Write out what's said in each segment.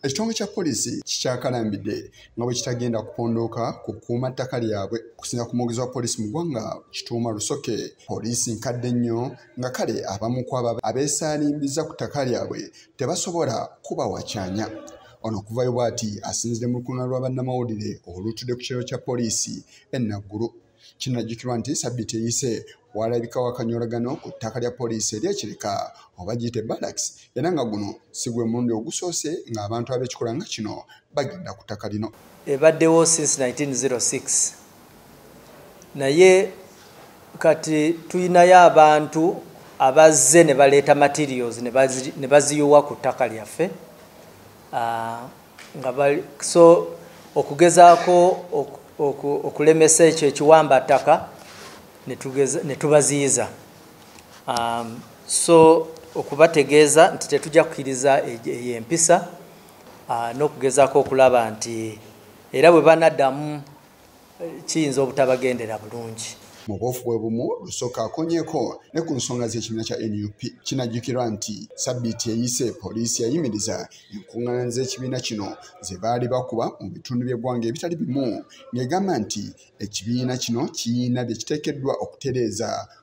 Ekitongole kya poliisi kikyakalambidde nga bwe kitagenda kupondooka ku kukuuma ttaka lyabwe okusinza ku mwogezi wa poliisi mu ggwanga Kituuma Rusoke. Poliisi nkadde nnyo nga kale abamu ku abo abeesaalimbizza ku ttaka lyabwe tebasobola kuba wakyanya. Ono okuvayo bw'ati asinzidde mu lukungaana lwa bannamawulire olutudde ku kiralo kya poliisi e Naggulu. kinajjukirwa nti sabiti eyise walabika wakanyolagano ku ttaka lya poliisi eryekireka oba giyite balax era nga guno si gwe mulundi ogusoose ng'abantu ab'ekikola nga kino bagenda ku ttaka lino ebaddewo since 1906 naye kati tulinayo abantu abazze ne baleeta materials ne baziyiwa ku ttaka lyaffe ah, nga bali so okugezaako okulemesa ekyo ekiwamba ttaka ne tubaziyiza um, so okubategeeza nti tetujja kukiriza eyo empisa uh, n'okugezaako okulaba nti era bwe banaddamu kiyinza obutabagendera bulungi mu bwofu bwe bumu lusooka akonyeko ne ku nsonga z'ekibiina kya nup kinajjukirwa nti sabbiiti eyise poliisi yayimiriza enkuŋŋaana z'ekibiina kino ze baali bakuba mu bitundu by'eggwanga ebitali bimu ng'egamba nti ekibiina kino kiyina bye kiteekeddwa okutereeza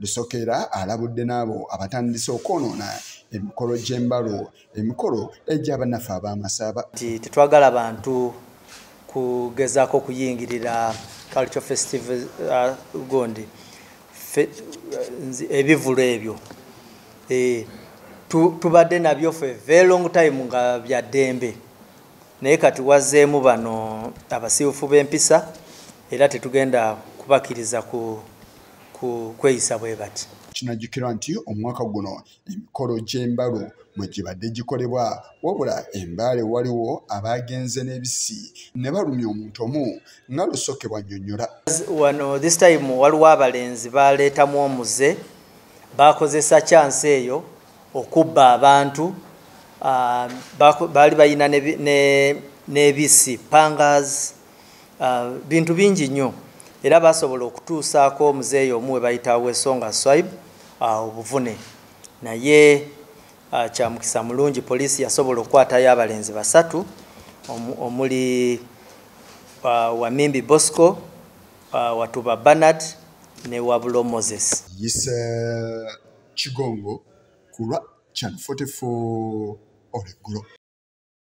Lusokera alabudde n'abo abatandise okwonoona emikolo gy'embalo emikolo egy'abannaffe ab'amasaaba nti tetwagala bantu kugezaako okuyingirira culture festival uh, gondi uh, ebivulu ebyo eh, tubadde nabyo fe very long time nga byaddembe naye kati wazeemu bano abasibufu b'empisa era tetugenda kubakiriza ku kweyisa bwe bati kinajjukirwa nti omwaka guno emikolo gy'embalu mwe gibadde gikolebwa wabula embaale waliwo abaagenze n'ebisi ne balumya omuntu omu nga lusoke bwannyonnyola wano this time waliwo abalenzi baaleetamu omuze baakozesa kyansi eyo okubba abantu ah, baali balina n'ebisi pangas uh, bintu bingi nnyo era basobola okutuusaako omuzeeyi omu we bayita wesonga swaib uh, obuvune naye uh, kyamukisa mulungi poliisi yasobola okukwatayo abalenzi basatu omuli uh, wamimbi bosco uh, watuba banard ne wabulo moses yise kigongo kulwa chan 44 oleggulo